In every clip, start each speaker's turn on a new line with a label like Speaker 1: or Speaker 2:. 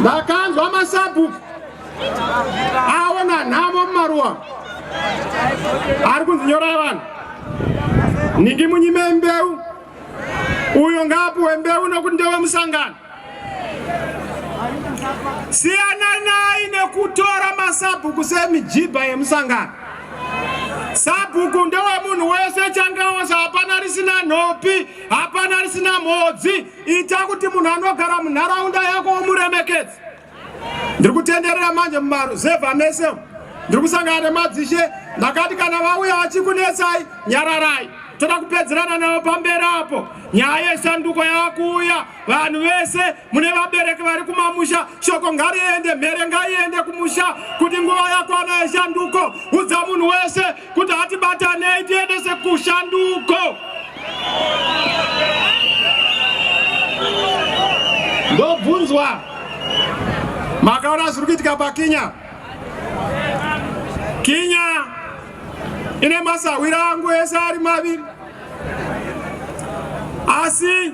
Speaker 1: vakanzwa masabhuku aona nhamo mumaruwa ari kunzi nyorai vanhu nhingi munyime mbeu uyo ngaapuwe mbeu nokuti ndewe musangano siyananai nekutora masabhuku semijibha yemusangano sabhuku ndewemunhu wese changaosa hapana risina nhopi hapana risina mhodzi Ita kuti munhu anogara munharaunda yako womuremekedzi. Ndiri kutenderera manje mumaruzevha mese umu. Ndiri kusangana nemadzishe ndakati kana vauya vachikunetsai nyararai. Toda kupedzerana navo pamberi apo. Nyaya yesanduko yava kuuya. Vanhu vese mune vabereki vari kumamusha shoko ngariende mhere ngaiende kumusha kuti nguva yakwana yesanduko. Udza munhu wese kuti hatibatanei tiendese kushanduko ndobvunzwa makaona zviri kuitika pakinya kinya ine masahwira angu ese ari maviri asi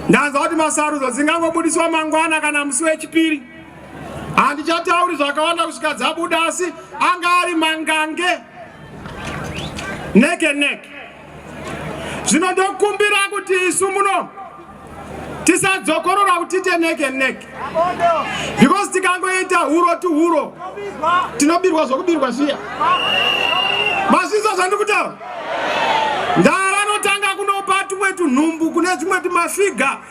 Speaker 1: ndanzwa kuti masarudzo dzingangobudiswa mangwana kana musi wechipiri handichatauri zvakawanda kusvika dzabuda asi anga ari mangange neke neke zvino ndokumbira kuti isu muno tisadzokorora kuti tiite neke neke because tikangoita huro tuhuro tinobirwa zvokubirwa zviya mazvinzwa zvandiri kutaura ndava vanotanga kunopa tumwe tunhumbu kune tumwe tumafiga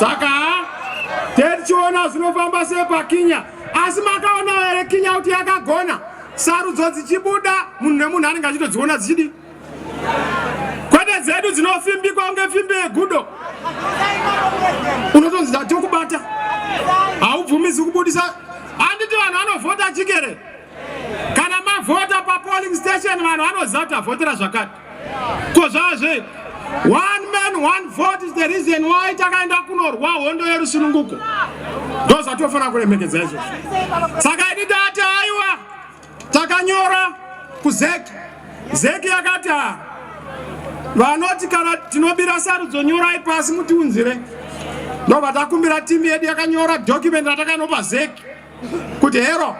Speaker 1: saka tetichiona zvinofamba sepakinya asi makaona here kinya kuti yakagona sarudzo dzichibuda munhu nemunhu anenge achitodziona dzichidi kwete dzedu dzinofimbikwa kunge fimbi yegudo unotonzi dati kubata haubvumizi kubudisa handiti vanhu vanovhota chikere kana mavhota papolling station vanhu vanoziva kuti tavhotera zvakati ko zvava zvei one man one vote is the reason why takaenda kunorwa hondo yerusununguko ndozvatofanira kuremekedza izvozvo saka idi tati aiwa takanyora kuzeki zeki yakati ha vanoti kana tinobira sarudzo nyorai pasi mutiunzire ndobva takumbira timu yedu yakanyora document ratakanopa zeki kuti hero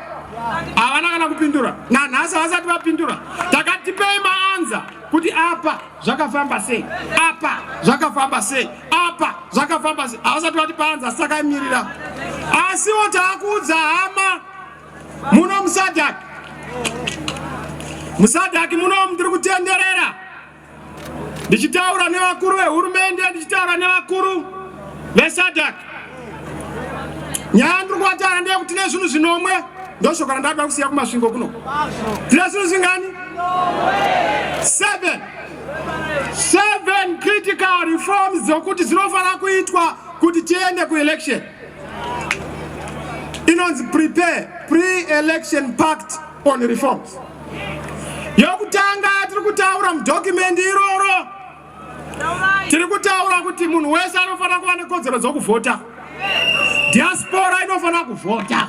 Speaker 1: havana kana kupindura nanhasi havasati vapindura takatipei maanza kuti apa zvakafamba sei apa zvakafamba sei apa zvakafamba sei havasati vati paanza asi takamirira asiwo taakuudza hama muno musadhaki musadhaki muno mutiri kutenderera ndichitaura nevakuru vehurumende ndichitaura nevakuru vesadak nyaya ndiri kuvatara ndeye kuti nezvinhu zvinomwe ndoshoko randada kusiya kumasvingo kuno tine zvinhu zvingani seven seven critical reforms dzokuti dzinofanira kuitwa kuti tiende kuelection inonzi prepare pre-election pact on reforms yokutanga tiri kutaura mudhokimendi iroro tiri kutaura kuti munhu wese anofanira kuva nekodzero dzokuvhota diaspora inofanira kuvhota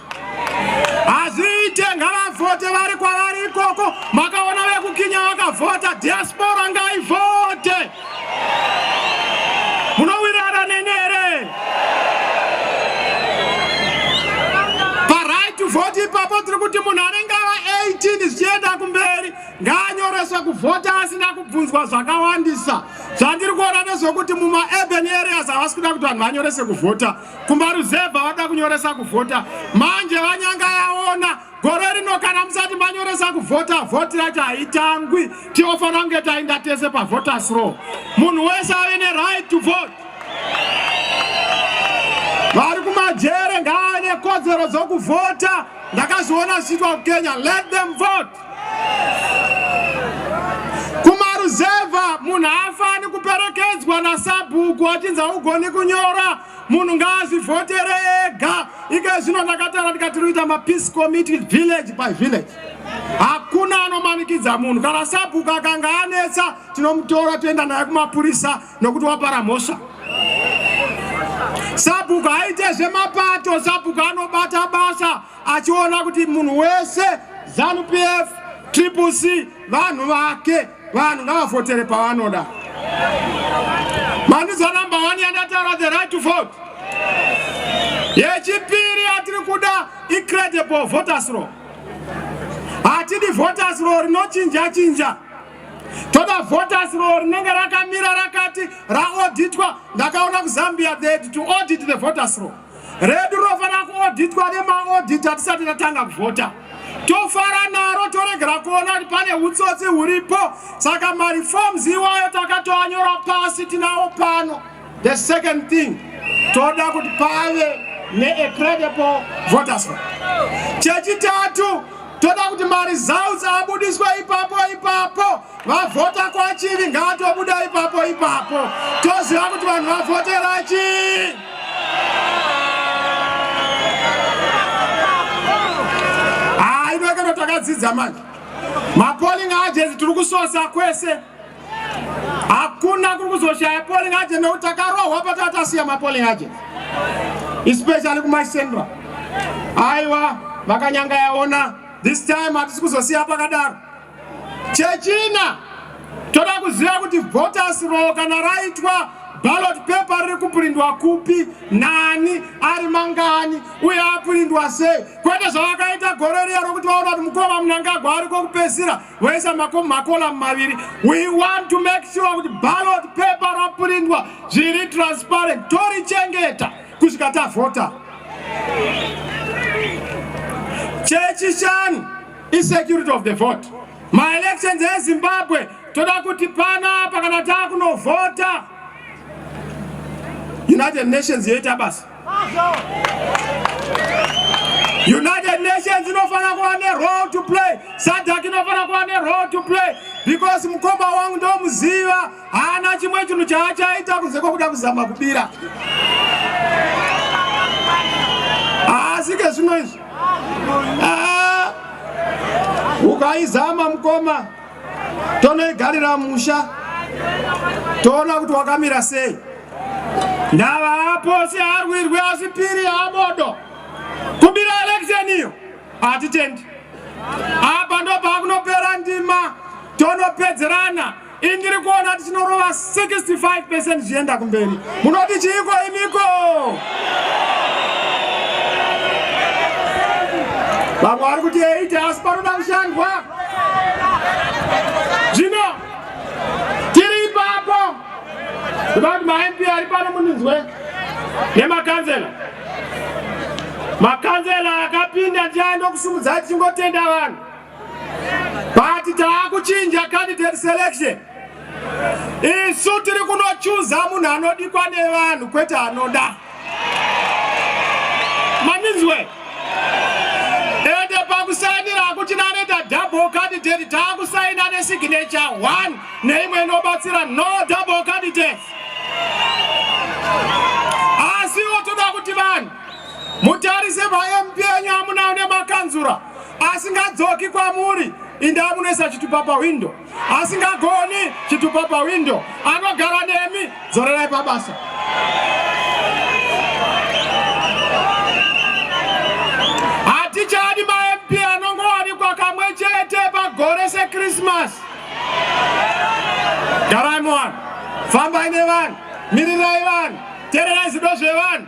Speaker 1: hazviite ngavavhote vari kwavari ikoko makaona vekukinya vakavhota diaspora ngaivhote munowirirana neni here paright to vote ipapo tiri kuti munhu anenge ava 18 zvichienda kumberi ngaanyoreswe kuvhota asina kubvunzwa zvakawandisa zvandiri kuona nezvekuti mumaurban areas havasi kuda kuti vanhu vanyorese kuvhota kumaruzevha vada kunyoresa kuvhota manje vanyanga yaona Gore rino kana musati manyoresa kuvhota, vhoti racho haitangwi. Tinofanira kunge tainda tese pavhoters row. Munhu wese ave neright to vote. Vari kumajere ngaave nekodzero dzokuvhota. Ndakazviona zvichiitwa kuKenya. Let them vote. Kumaruzevha munhu haafani kuperekedzwa nasabhuku achinzi haugoni kunyora. munhu ngaazvivhotere ega ika zvino ndakatara ndikati ruita mapeace committee village by village hakuna anomanikidza munhu kana sabhuku akanga anetsa tinomutora toenda naye kumapurisa nokuti wapara mhosva sabhuku haite zvemapato sabhuku anobata basa achiona kuti munhu wese zanupf triple c vanhu vake vanhu ngavavhotere pavanoda mandiza number one yandataura the right to vote yechipiri yatiri kuda icredible voters law hatidi voters law rinochinja chinja toda voters law rinenge rakamira rakati raauditwa ndakaona kuzambia the to audit the voters law redu rinofanira kuodhitwa nemaodhiti atisati tatanga kuvhota tofara naro toregera kuona kuti pane utsotsi huripo saka mareforms iwayo takatoanyora pasi tinawo pano the second thing toda kuti pave neacredible voters chechitatu toda kuti maresults abudiswe ipapo ipapo vavhota kwachivi ngaatobuda ipapo ipapo toziva kuti vanhu vavhotera chii hainoekero takadzidza manje mapoling agents tiri kusosa kwese hakuna kuri kuzoshaya poling agent nekuti takarohwa pataa tasiya mapoling agents especially kumacentral aiwa vakanyanga yaona this time hatisi kuzosiya pakadaro Chechina, toda kuziva kuti voters roll kana raitwa ballot paper riri kupurindwa kupi, nani, ari mangani uye apurindwa sei, kwete zvavakaita gore riya rokuti vaona kuti mukoma Mnangagwa ari kokupedzisira voisa makolamu maviri. We want to make sure kuti ballot paper rapurindwa zviri transparent, torichengeta kusvika tavhota. Chechishanu Insecurity of the vote. My elections in Zimbabwe toda kuti pana apa kana takunovhota United Nations yoita basa. United Nations inofanira kuva ne role to play. SADC inofanira kuva ne role to play because mukoma wangu ndomuziva haana chimwe chinhu chaachaita kunze kwekuda kuzama kubira. Asi ke zvino izvi Ah, ukaizama mukoma tonoigarira musha toona kuti wakamira sei ndava aposi arwirwi asipiri abodo kubira election iyo hatitendi apa ndopakunopera ndima tonopedzerana Ini ndiri kuona kuti chinorova 65% zvienda kumberi. Munoti chiiko imiko? Vamwe vari kuti 8 asi panoda kushandwa. Zvino tiri ipapo. Kuda kuti maMP ari pano muninzwe nemakanzela. Makanzela akapinda ndiani ndokusumudza tichingotenda vanhu. but taakuchinja candidate selection isu tiri kunochuza munhu anodikwa nevanhu kwete anoda maninzwe ende pakusainira hakuchina anoita double candidate taakusaina nesignature one neimwe inobatsira no double candidate asiwo toda kuti vanhu mutarise pamp yenyu amuna une makanzura asingadzoki kwamuri indi amunoisa chitupa pahwindo asingagoni chitupa pahwindo anogara nemi dzorerai pabasa hatichadi mamp anongowanikwa kamwe chete pagore sekrismas garai muvanhu fambai nevanhu mirirai vanhu tererai zido zvevanhu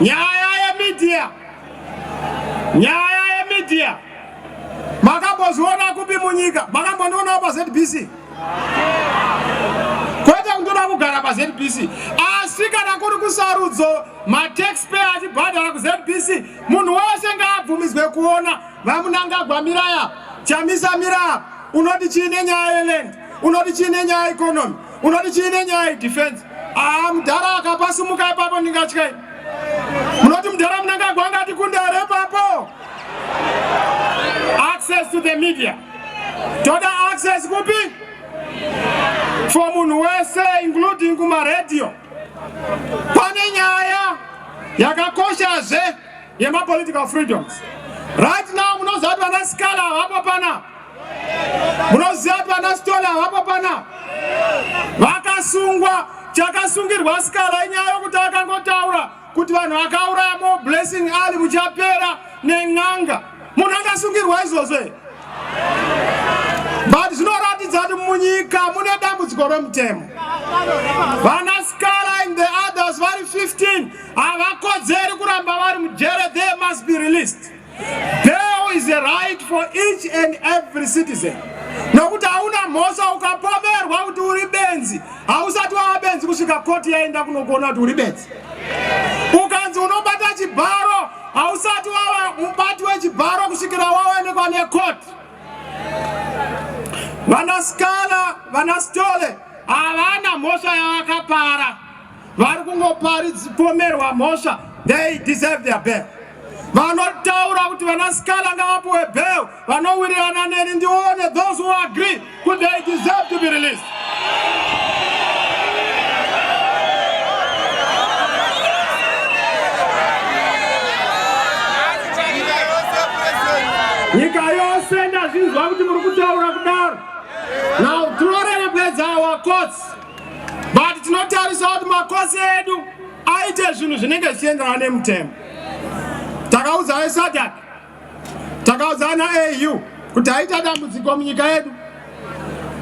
Speaker 1: nyaya yemedia nyaya yemedia makambozviona kupi munyika makambondionawo pazbc kwete kundoda kugara pazbc asi kana kuri kusarudzo mataxpayer achibhadhara kuzbc munhu wese ngaabvumidzwe kuona vamunangagwa miraya chamisa miraya unoti chii nenyaya yeland unoti chii nenyaya economy unoti chii nenyaya yedefense aa ah, mudhara akapasumuka ipapo ndingatyai munoti mudhara munangagwa angati kundare ipapo access to the media toda access kupi for munhu wese including kumaradio pane nyaya yakakoshazve yemapolitical freedoms right now munoziva kuti vana sikala havapo pana munoziva kuti vana stola havapo pana vakasungwa chakasungirwa sikala inyaya yokuti akangotaura kuti vanhu vakauraya mo blessing ali muchapera nen'anga munhu akasungirwa izvozvo here but zvinoratidza kuti munyika mune dambudziko remutemo vana sikala in the others vari 15 havakodzeri kuramba vari mujere they must be released there is a right for each and every citizen nokuti hauna mhosva ukapomerwa kuti uri benzi hausati wava benzi kusvika koti yaenda kunokuona kuti uri benzi ukanzi unobata chibharo hausati wava mubati wechibharo kusvikira waonekwa nekoti vanasikana vanasitole havana mhosva yavakapara vari kungoparipomerwa mhosva they deserve their bail vanotaura kuti vana skala ngavapuwe bail vanowirirana neni ndione those who agree kuti they deserve to be released nyika yose ndazvinzwa kuti muri kutaura kudaro now tinorerekwedza our courts but tinotarisa kuti makosi edu aite zvinhu zvinenge zvichienderana nemutemo takaudza vesadak takaudza ana au kuti aita dambudziko munyika yedu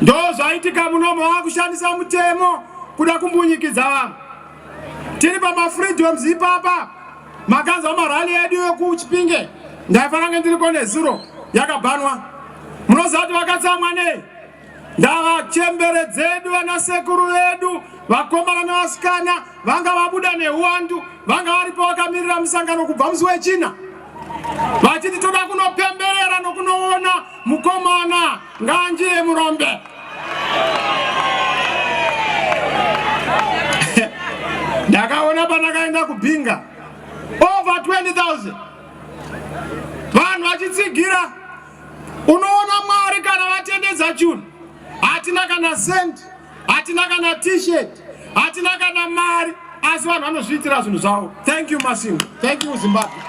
Speaker 1: ndo zvaitika munomo wakushandisa mutemo kuda kumbunyikidza vanhu tiri pamafreedoms ipapa makanzwa marali yedu yokuchipinge ndaifanange ndiriko nezuro yakabhanwa munoziva kuti vakatsamwa nei Ngavachembere dzedu vana sekuru vedu vakomana nevasikana vanga vabuda nehuwandu vanga varipo vakamirira musangano kubva musi wechina vachiti toda kunopemberera nokunoona mukomana nganjire murombe ndakaona pandakaenda kubhinga over 20000 vanhu vachitsigira Unoona Mwari kana vatendedza chunhu, hatina kana sent, hatina kana t-shirt, hatina kana mari, asi vanhu vanozviitira zvinhu zvavo. Thank you Masingo, thank you Zimbabwe.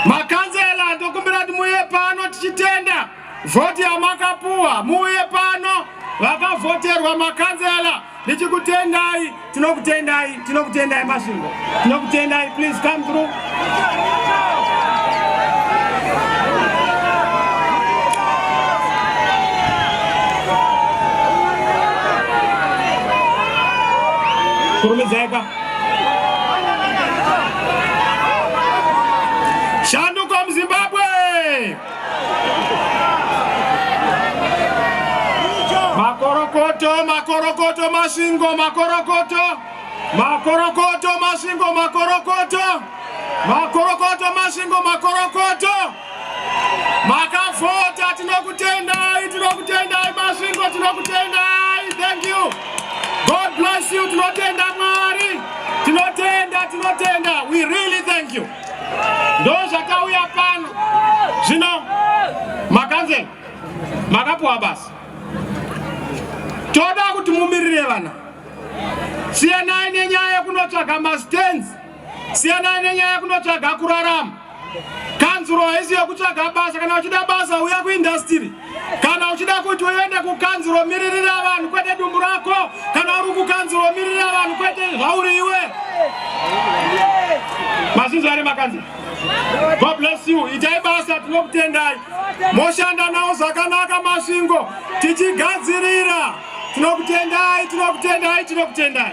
Speaker 1: Makanzela ndokumbira kuti muye pano tichitenda. Vhoti yamakapuwa muuye pano vakavhoterwa makanzela ndichikutendai tinokutendai tinokutendai masvingo tinokutendai please come through kurumidzaipa shanduko muzimbabwe makorokoto makorokoto masvingo makorokoto makorokoto masvingo makorokoto makorokoto masvingo makorokoto makavhota tinokutendai tinokutendai masvingo tinokutendai thank you god bless you tinotenda mwari tinotenda tinotenda we really thank you ndozvatauya pano zvino makanzela makapuwa basa toda kuti mumirire vana siyanai nenyaya yekunotsvaga mastans siyanai nenyaya yekunotsvaga kurarama kanzuro haisi yekutsvaga basa kana uchida basa uya kuindastiri kana uchida kuti uende kukanzuro miririra vanhu kwete dumbu rako kana uri kukanzuro miririra vanhu kwete zvauri iwe masinzwa ari makanzi god bless you itai basa tinokutendai moshanda nawo zvakanaka masvingo tichigadzirira tinokutendai tinokutendai tinokutendai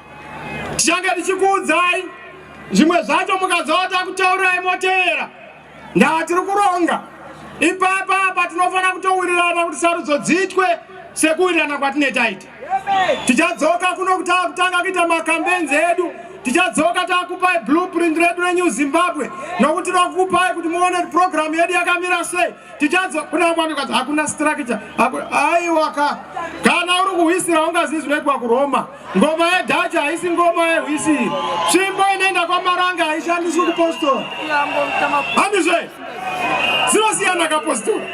Speaker 1: tichange tichikuudzai zvimwe zvacho mukazoa takutaurai moteera ndaa tiri kuronga ipapa apa tinofanira kutowirirana kuti sarudzo dziitwe sekuwirirana kwatine taita tichadzoka kuno kuti akutanga kuita makambenzi edu tichadzoka takupai blueprint redu renew zimbabwe nokuti rakupai kuti muone kuti programu yedu yakamira sei tichadzoka kuna mwami kati hakuna structure aiwaka kana uri kuhwisira ungazizi rekwa kuroma Ngoma yedhacha haisi ngoma yehwisi. Tsvimbo inoenda kwamaranga haishandiswi kupostora. Handizve? Zinosiyana kapostora.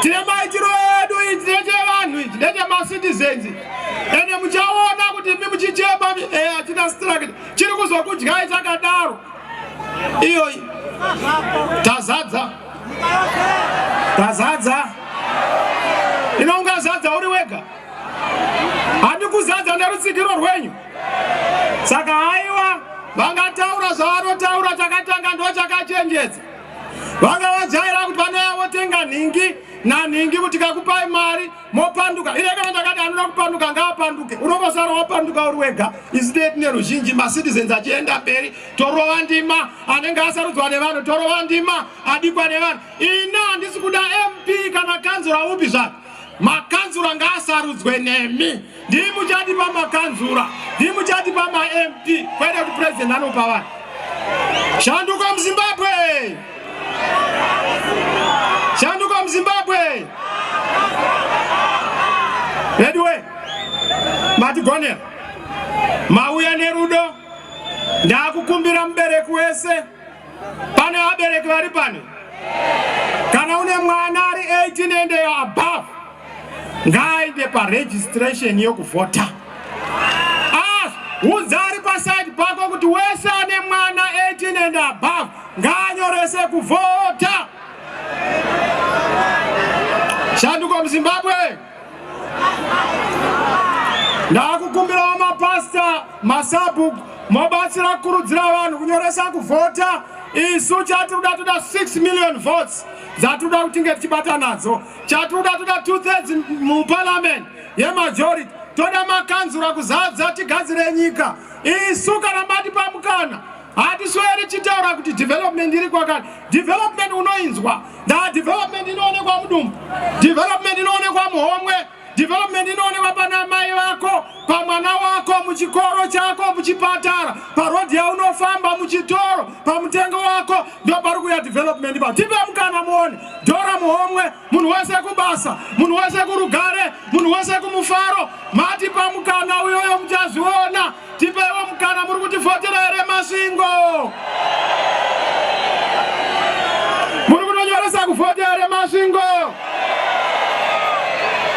Speaker 1: Tine maitiro edu ichi ndechevanhu ichi ndechemacitizens. Ende muchaona kuti imi muchichema eh, hatina struct. Chiri kuzokudyai chakadaro. Iyoyi. Tazadza. Tazadza. Inonga zadza uri wega. handi kuzadza nerutsigiro rwenyu saka haiwa vangataura zvavanotaura chakatanga ndo chakachenjedza vanga vajaira kuti vanouya votenga nhingi nanhingi kuti kakupai mari mopanduka ine kana ndakati anoda kupanduka ngaapanduke unongosara wapanduka uri wega isi tee tine ruzhinji macitizens achienda mberi torova ndima anenge asarudzwa nevanhu torova ndima adikwa nevanhu ina handisi kuda mp kana kanzura upi zvake makanzura ngaasarudzwe nemi ndii muchati pamakanzura ndii muchati pamamp kwete kuti president anopa vanhu shanduko muzimbabwe shanduko muzimbabwe veduwe matigonera mauya nerudo ndakukumbira mubereki wese Pane vabereki vari pano? Kana une mwana ari 18 and above, ngaaende paregistration yokuvhota. As udza ari paside pako kuti wese ane mwana 18 and above ngaanyorese kuvhota. Shanduko muZimbabwe. ndakukumbirawo mapasta masabhuk mobatsira kukurudzira vanhu kunyoresa kuvhota isu chatiri da toda 6 million votes dzatiri da kutinge tichibata nadzo chatiri da toda two thirds muparliament yemajority toda makanzura kuzadza tigadzire nyika isu kana matipa mukana hatisweri tichitaura kuti development iri kwakani development unoinzwa ndaa development inoonekwa mudumbu development inoonekwa muhomwe development inoonekwa pana mai vako pamwana wako muchikoro chako muchipatara parodhi yaunofamba muchitoro pamutengo wako ndopari kuya development pa tipe mukana muone dhora muhomwe munhu wese kubasa munhu wese kurugare munhu wese kumufaro matipa mukana uyoyo muchazviona tipeiwo mukana muri kutivhotera here masvingo muri kunonyoresa kuvhota here masvingo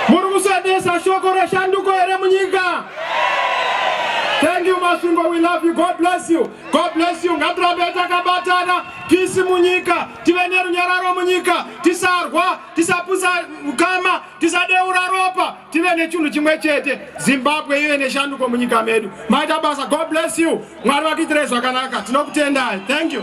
Speaker 1: muri kusendesa shoko reshanduko here munyika thank you masvingo we love you god bless you god bless you ngatirambe takabatana kisi munyika tive nerunyararo munyika tisarwa tisapusa ukama tisadeura ropa tive nechinhu chimwe chete zimbabwe ive neshanduko munyika medu maita basa god bless you mwari vakuitirei zvakanaka tinokutendai thank you